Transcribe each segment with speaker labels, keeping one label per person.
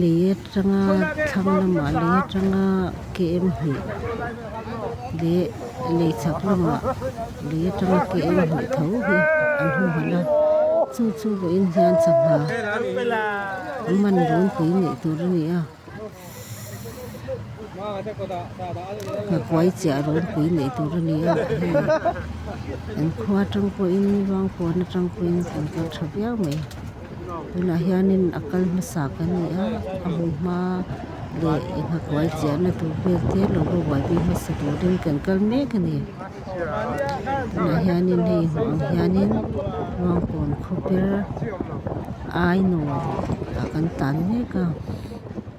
Speaker 1: Lei atanga thlang lamah lei atanga KM hnih leh lei chak lamah lei atanga KM hnih tho hi an hu han a, chu chu vawiin hian changha man dun pui neih tur a ni a, kakuai chiah run pui neih tur a ni a, hei kan khua atang pawhin luang puan atang pawhin kan kal tha viau mai. Tunah hianin a kal hmasa ka ni a, a hu hma leh nghakuai chiahna tur vel te lo ruai bik hmasa turin kan kal mek a ni. Tunah hianin hei hnah ah hianin Ruangkawn khawper ainaw ah kan tan mek a.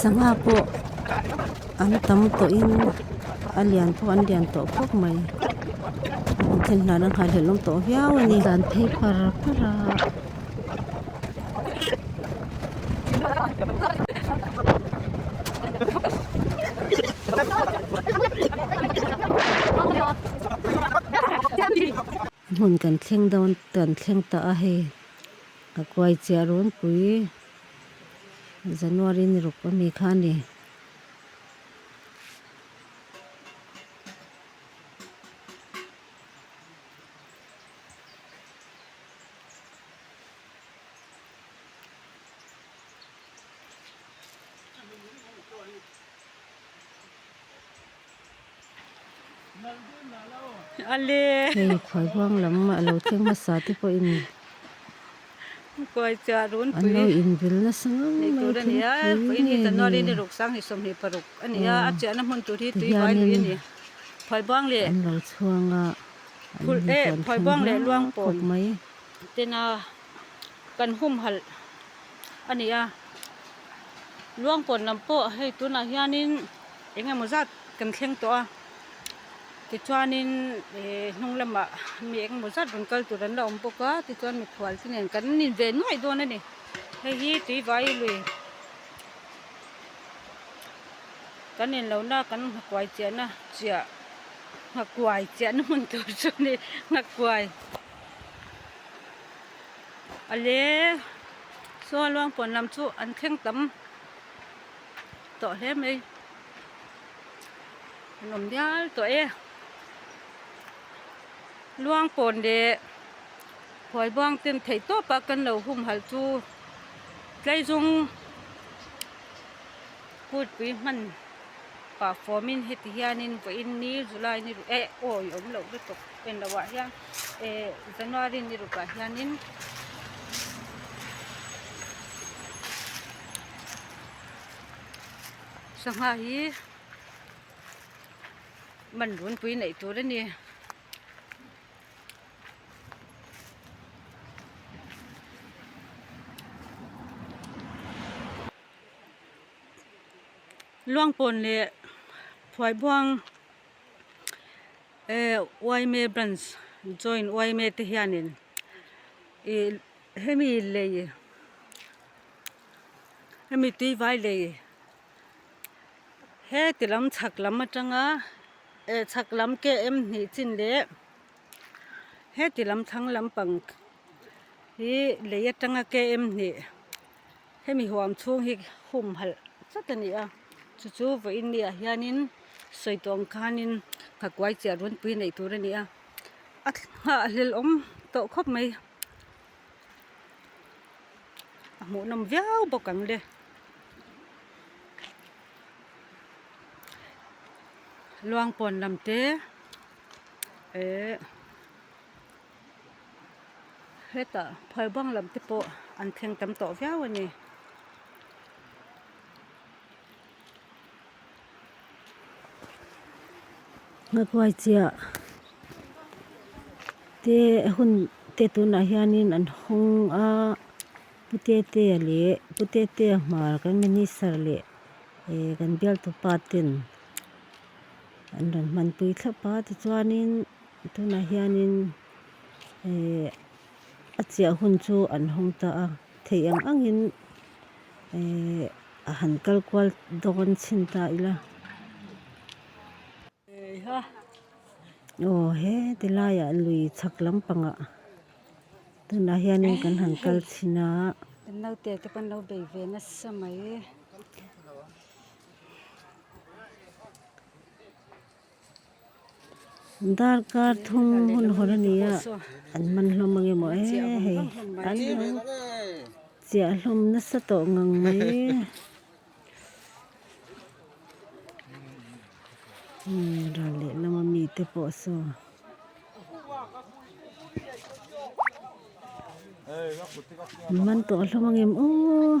Speaker 1: sangha pawh an tam tawh in a lian pawh an lian tawh khawp mai an then hlana nghaihlel awm tawh viau a ni dan phei par par a Thank you. Hmun kan thleng dawn kan thleng ta a hei ka kuai chiah run pui January ni ruk ami kha a ni. Hei khuai huang lam a lo thleng hmasa te pawhin an lo invil nasa ngam mai thil pui nge ni te hianin an lo chhuang a an infiamthu hlawk hlawk mai. kan humhalh a ni a luangpawn lam pawh hei tunah hianin eng emaw zat kan thleng tawh a tichuanin ihh hnung lamah mi eng emaw zat rawn kal tur an la awm bawk a tichuan mikhual te nen kan inve nuaih dawn a ni hei hi tui vâi lui kan inlo na kan nghakuai chiahna chiah nghakuai chiahna hmun tur chu a ni nghakuai. ale saw luangpuan lam chu an thleng tam tawh hle mai an awm dial tawh e luangpawn leh huai bang ten thei tawp a kan lo hum hal chu tlai zawng putpui hman pah fawmin heti hianin vawiin ni zulai ni ruh eh aw i awm loh lutuk. en lo ah hian eh january ni ruk ah hian in sangha hi man runpui neih tur a ni luangpawn leh phuai buang. yma branch join yma te hianin ih hemi lei hemi tuivai lei heti lam chhak lam atanga eh chhak lam km hnih chin leh heti lam thlang lampang hi lei atanga km hnih-- Hemi huam chhung hi humhalh zat a ni a, chu chu vawiin mi ah hianin sawi tuam khanin nghakuai chiah runpui neih tur a ni a, a nghah a hlelawm tawh khawp mai, a hmuhnawm viau bawk ang le, luangpawn lam te eehh. hetah phar bang lam te pawh an thleng tam tawh viau a ni. Hnakuai chiah te hun te tunah hianin an hawng a, Pu Tetea leh Pu Tetea hmar kan minister leh eh kan bialtupa ten an rawn hmanpui thlap a tichuanin-- Tunah hianin a chiah hun chu an hawng ta a, theih ang angin a han kal kual dawn chhin ta ila. Aw he ti laiah lui chhak lampangah tunah hianin kan han kal chhin a. Kan naute te pawh an lo bei ve nasa mai. Darkar thum hun haw la nia an man hlawm ang emaw e hei an lo chiah hlawm nasa tawh ngang mai ral leh lama mi te pawh saw an man tawh hlawm ang em aw.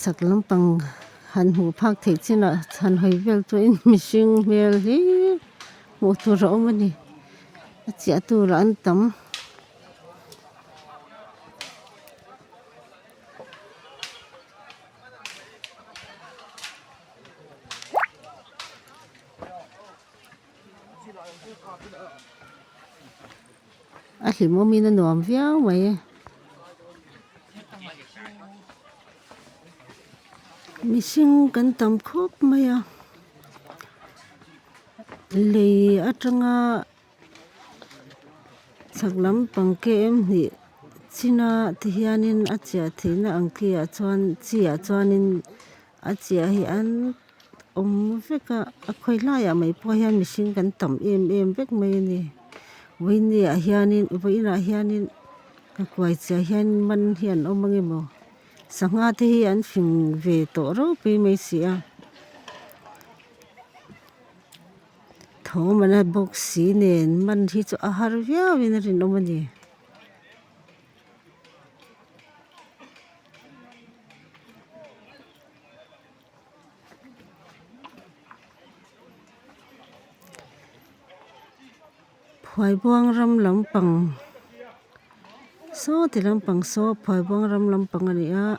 Speaker 1: Chak lampang han hmuh phak theih chinah chhan hawi vel chu in mihring hmel hi hmuh tur a awm a ni. A chiah turah an tam. A hlim awm in a nuam viau mai e. Mihring kan tam khawp mai a. Lei atanga chhak lam pang KM hnih China te hian in a chiah theihna ang khi ah chuan chi ah chuan in-- A chiah hi an awm vek a, a khawilaiah mai pawh hian mihring kan tam em em vek mai a ni. Vawinia hianin, vawiinah hianin ka kuai chiah hian man hi an awm ange maw? Sangha te hi an fing ve tawh reuh pi mai si a. Thawmana box si nen man hi chu a har viau in a rinawm a ni. Phuaibuang ram lampang sawti lampang saw Phuaibuang ram lampang a ni a.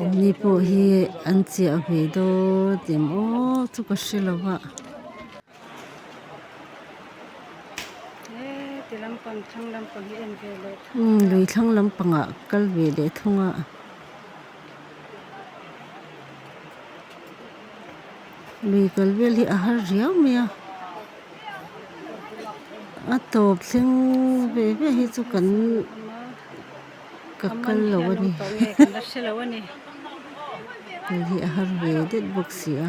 Speaker 1: Awmni pawh hi an chiah ve dawn tih maw chu ka hre lo a. Lui thlang lampangah kal ve leh thung a. lui kal vel hi a har riau mai a a tawp thleng ve ve hi chu kan ka kal lo a ni hei hi a har ve det bawk si a.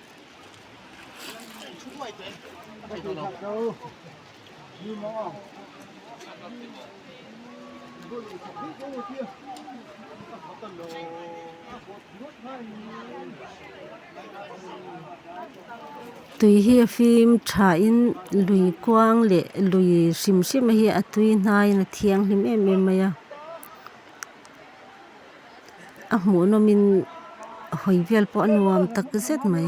Speaker 1: Tui hi a fim tha in lui kuang leh lui hrim hrima hi a tui hnaiin a thianghlim em em mai a. a hmuhnawm in a hawi vel pawh a nuam tak zet mai.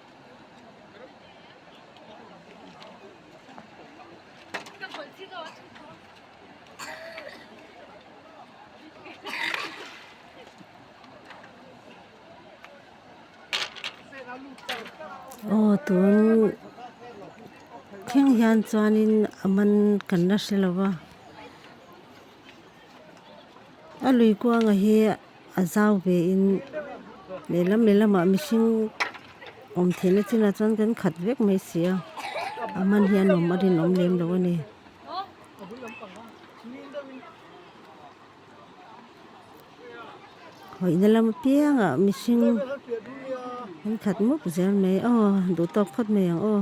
Speaker 1: aw tun kheng hian chuanin a man kan la hre lova a lui kuangah hi-- A zau ve in lehlam lehlamah mihring awm theihna chinah chuan kan khat vek mai si a, a hman hi a nawm a rinawm lem lo a ni. Hawihna lam apiangah mihring an khat mup zel mai, aw duh tawk phawt mai ang aw.